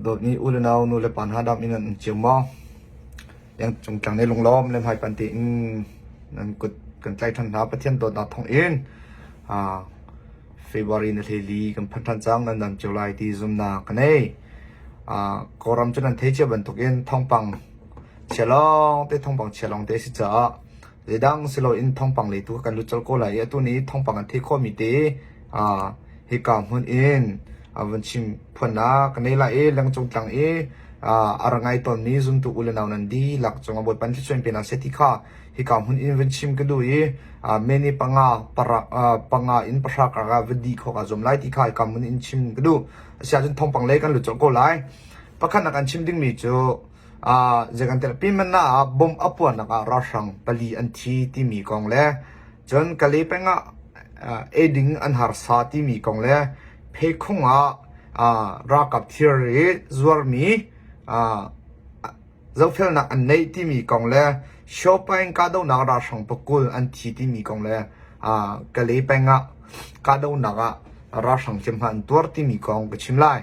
Dawt nih u le nau, nu le pa hna dam in an um cio maw? Cungtlang nei lunglawm le hmaipanh tein nan kut kan tlaih ṭhan hna. Pathian dawtnak thawng in February ni hleli kan phanh ṭhan cang. Nan dam cio lai ti zumnak ka nei. Kawlram cu nan thei cio bantukin thawngpang chia lawngte, thawngpang chia lawngte a si caah Zeidang si loin thawngpang le tu kha kan lut colh ko lai i atu nih thawngpang an theih khawhmi te hika hmun in a vun chim phuannak kan ei lai i lengcung tlang i a rak ngai tawnmi zumtu u le nau nan dihlak cungah Bawipa an thluachuan pe nak seh ti kha hika hmun in vun chim ka duh i meni panga parak panga in pahra karka va dih khawk ah zuam lai ti kha hika hmun in chim ka duh asiahcun thawngpang lei kan lut colh ko lai pakhat nak an chim dingmi cu zei kan telh pi man ah bomb a puarnak ah ralhrang pali an thi timi kong le cun Kale peng ah eding an harsa timi kong le pheikhung ah ralkap thirri zuarmi zohfelnak an neih timi kong le Shopaing kahdohnak ralhrang pakul an thi timi kong le Kale peng ah kahdohnak ah ralhrang hliamhma an tuar timi kong ka chim lai.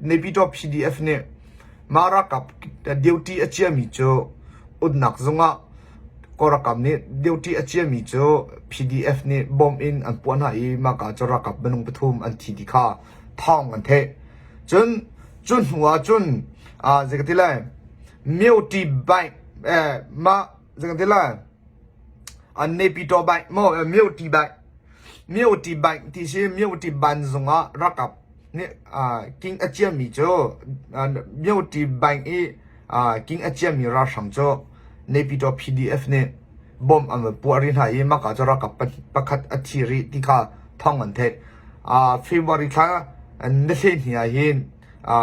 Nepyitaw PDF nih mah ralkap duty a ciami cu umnak zung ah kawlralkap nih duty a ciami cu PDF nih bawmh in an puah hna i mahka cu ralkap minung pathum an thi ti kha thawng an theih. Cun cu hnu ah cun zeikati lai Myotti Bank mah zang ti la an ne pi to bai mo mio ti bai mio ti bai ti si mio ti ban zung ah rakap ni king achiam mi chu mio ti bai i king achiam mi ra sham chu ne pi to pdf ne bom am puar ri na i maka chu rakap pakhat athi ri ti ka thong an the a february thla ne hle ni a hin a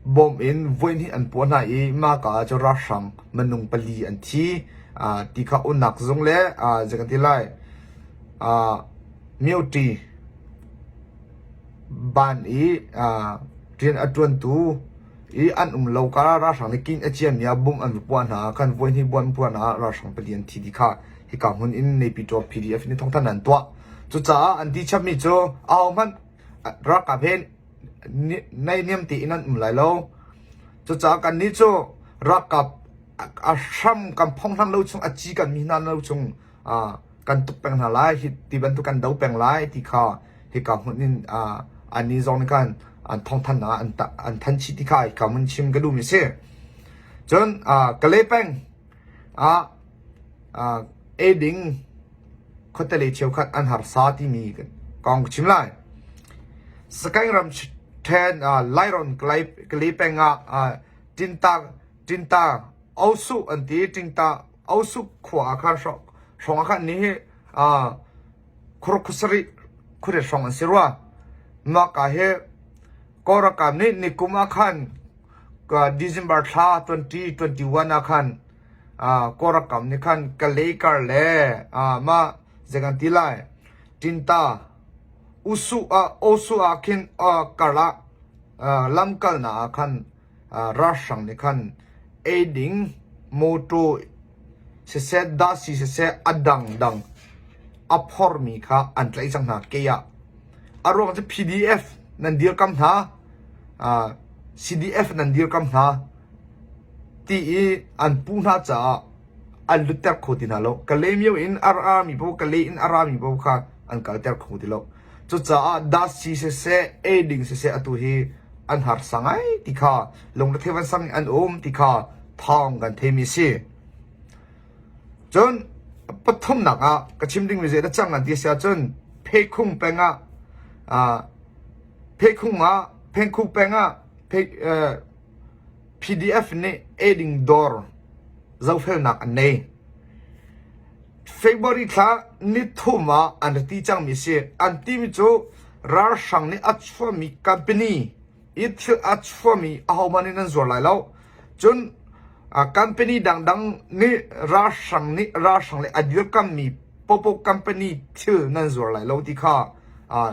Bawm in voihnih an puah hna i mahka ah cun ralhrang minung pali an thi. Ti kha unak zung le zei kan ti lai mioṭi, ban i rian a ṭuantu i an um lo karah ralhrang nih kinh a ciami ah bom an va puah hna. Khan voihnih bawm an puah hna ah ralhrang pali an thi ti kha hika hmun in Naypyi Taw PD a fing in thawngthanh an tuah. Cucaah an ti chapmi cu ahohmanh ralkap he Naihniam tein an um lai lo. Cucaah kannih cu ralkap a hram kan phonghlang lo chung, a ci kanmi hna lo chung ah kan tuk peng hna lai. Hi ti bantuk kan do peng lai ti kha hika hmun in ah annih zong nih khan an thawngthanhnak ah an tah an thanchih ti kha hika hmun chim ka duhmi a si. Cun ah Kale peng ah ah ei ding khuatelei cheukhat an harsa timi kong ka chim lai. Sakaing ram ṭhen Lairon kali peng ah Tinta Tinta Osu an ti Tingta Osu khua ah khan hrawng ah khan ni hi khurkhusari khuri hrawng an si rua maka he korakam ni nikum ah khan December thla 2021 ah khan Kawlralkap nih khan Kalaykar le mah zei kan ti lai Tinta, Osu ah khin karah lamkalnak ah khan ralhrang nih khan ei ding mawṭaw siseh dasi siseh a dangdang a phormi kha an tlaih cang hna kei ah. A ruang cu PDF nan dirkamh hna, CDF nan dirkamh hna. ti i an pu hna caah an lutter kho ti hna lo. Ka lemio in a rami paoh, ka le in a rami paoh kha an kalter kho ti lo. Cucaah dasi siseh, ei ding siseh atu hi an harsa ngai ti kha lungrethei vansang in an um ti kha thawng kan theimi a si. Cun pathumnak ah ka chim ding mi zeidah cang an ti a si ahcun pheikhung peng ah ah pheikhung ah phengkhu peng ah phei, eh, PDF nih eiding dawr zohfelnak an nei. February thla nithum ah an rat ti cangmi a si. An timi cu ralhrang nih a chuahmi company i thil a chuahmi ahohmanh nih nan zuar lai lo. Cun uh, company dangdang nih ralhrang nih ralhrang le a dirkammi popo company thil nan zuar lai lo ti kha uh,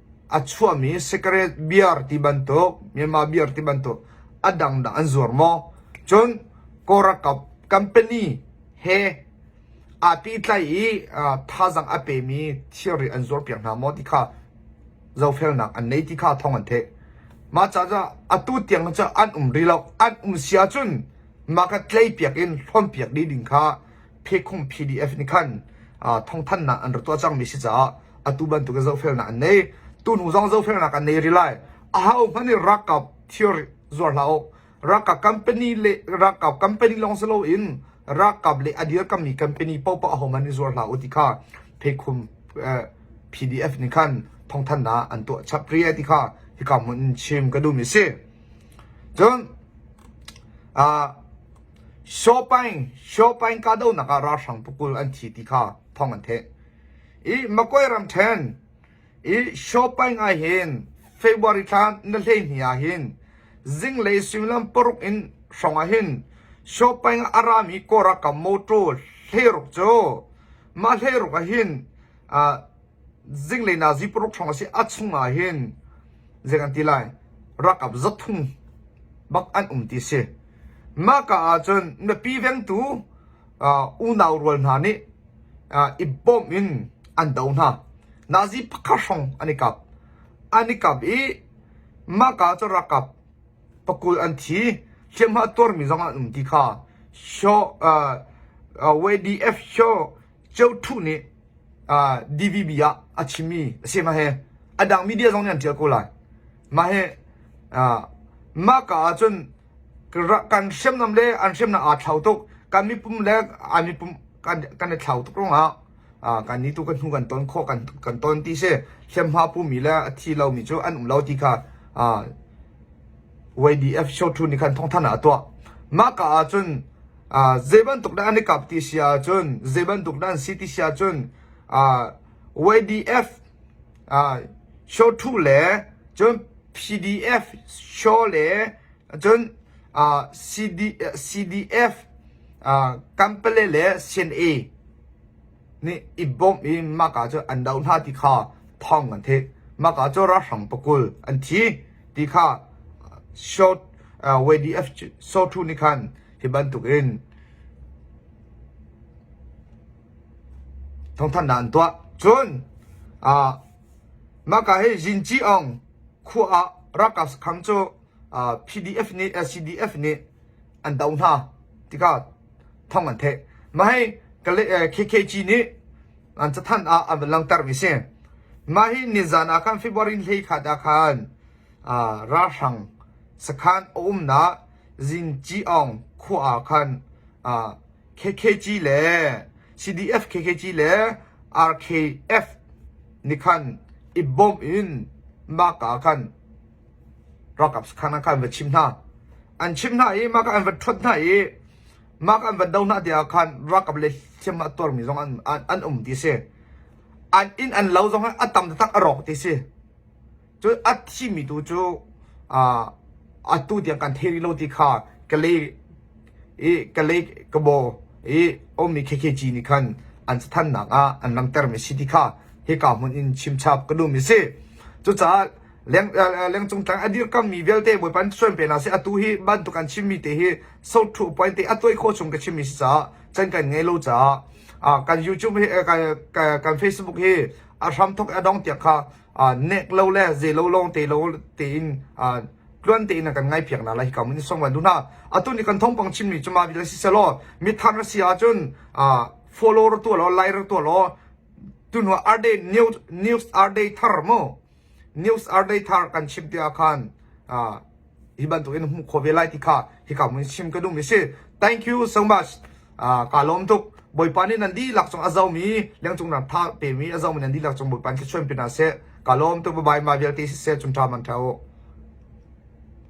A chuahmi cigarette beer ti bantuk, Myanmar beer ti bantuk a dang dah an zuar maw? Cun Kawlralkap company he aa pitlai i aa thazaang a pemi thilri an zuarpiak hna maw ti kha zohfelnak an nei ti kha thawng an theih. Mah caah atu tiang cu an um rih lo. An um si ahcun market tlei piak in hlonpiak dih ding kha phekhung PDF nih khan thawngthannak an rak tuah cangmi si caah atu bantukin zohfelnak an nei tunu zong zohfelnak an nei rih lai aha hman i ralkap theory zuar hlah u ralkap company le ralkap company lawng si loin ralkap le adir kammi company popa ahom an i zuar hlah u ti kha phekhum PDF nih khan thawngthannak an tuah chap ri ti kha hika mun in chim ka duhmi si cun Shopaing Shopaing kahdohnak ah ralhrang pakul an thi ti kha thawng an theih. I Magway ramṭhen i Shopaing ah hin February thla na hleihnih ah hin zinglei suimilam paruk in hrawng ah hin Shopaing ah a rami kawlralkap mawṭaw hleiruk cu mah hleiruk ah hin aa zinglei na zi paruk hrawng a si. A chungah hin zei an ti lai, rakap zathum bak an um ti si. Mahka ahcun mipi vengtu uh, unau rual hna nih uh, i bawm in an do hna. Nazi pakhat hrawng an i kap. An i kap i mahka cu rakap pakul an thi. Hliamhma tuarmi zong an um ti kha. Shaw, uh, uh, YDF Shaw Ceuthuh nih DVB ah a chimmi a si. Mah hi a dang media zong nih an ṭial ko lai. Mah hi mah ka ahcun kan hriamnam le an hriamnam aa thlau tuk. Kan mipum le an mipum kan i thlau tuk ruangah kan nih tu kan hnu kan ton khawh kan ton ti si. Hliamhma pumi le a thi lomi cu an um lo ti kha YDF shawthu nih khan thawngthanh ah a tuah. Mah ka ahcun Zeibantuk dah an i kap ti si ahcun, zeibantuk dah an si ti si ahcun, YDF shaw ṭhu le cun PDF shaw le cun CDF kampale le CNA nih i bawmh i mahka cu an do hna ti kha thawng an theih. Mahka cu ralhrang pakul an thi ti kha sawt YDF sawthu nih khan hi bantuk in thawngthanhnak an tuah. Cun ah mahka hi Zinci Ong khua ah ralkap khang cu ah PDF nih LCDF nih an do hna ti kha thong an theh. Mahhi KKG nih an cathanh ah an van langtermi si. Mahhi nizan ah khan February hlei khat ah khan ralhrang sakhan a umnak Zinci Aung khua ah khan KKG le CDF KKG le RKF nih khan i bawm in maka khan Ralkap sakhan ah khan an va chim hna. An chimh hna i mah kha an va ṭhonh hna i mah kha an van do hna tiah khan ralkap le hliamhma a tuarmi zong an, an, an um ti a si. An inn an lo zong a tam taktak a rawk ti a si. Cun a thimi tu cu uh, atu tiang kan thei rih lo ti kha Kalay i Kalay Kabo i ummi KKG nih khan an cathannak ah an langhtermi a si ti kha hika hmun in chimchap ka duhmi a si. Cucaah lengcung tlang a dirkammi vialte Bawipa an suan pe hna si atu hi bantuk an chimmi te hi social point te a tuai khawh chung ka chimmi si caah can kan ngei lo caah kan YouTube hi kan Facebook hi a hram thok a dong tiak kha nek lo le ze lo long te lo te in tluan te in kan ngai phiak na la hi kam ni song wan duna atu ni kan thong pang chin mi chuma bi la si selo mi thang si a chun follow ro tu lo like ro tu lo tu no are day news news are day thar mo news artei thar kan chim ti ah khan hi bantukin hmuh kho ve lai ti kha hi ka mun sim ka dum si thank you so much ka lom tuk boipa ni nan di lak chung azo mi lengcung ram tha pe mi azo mi nan di lak chung boipan ki chuan pina se ka lom tuk bye ma vial ti se chung tha man thau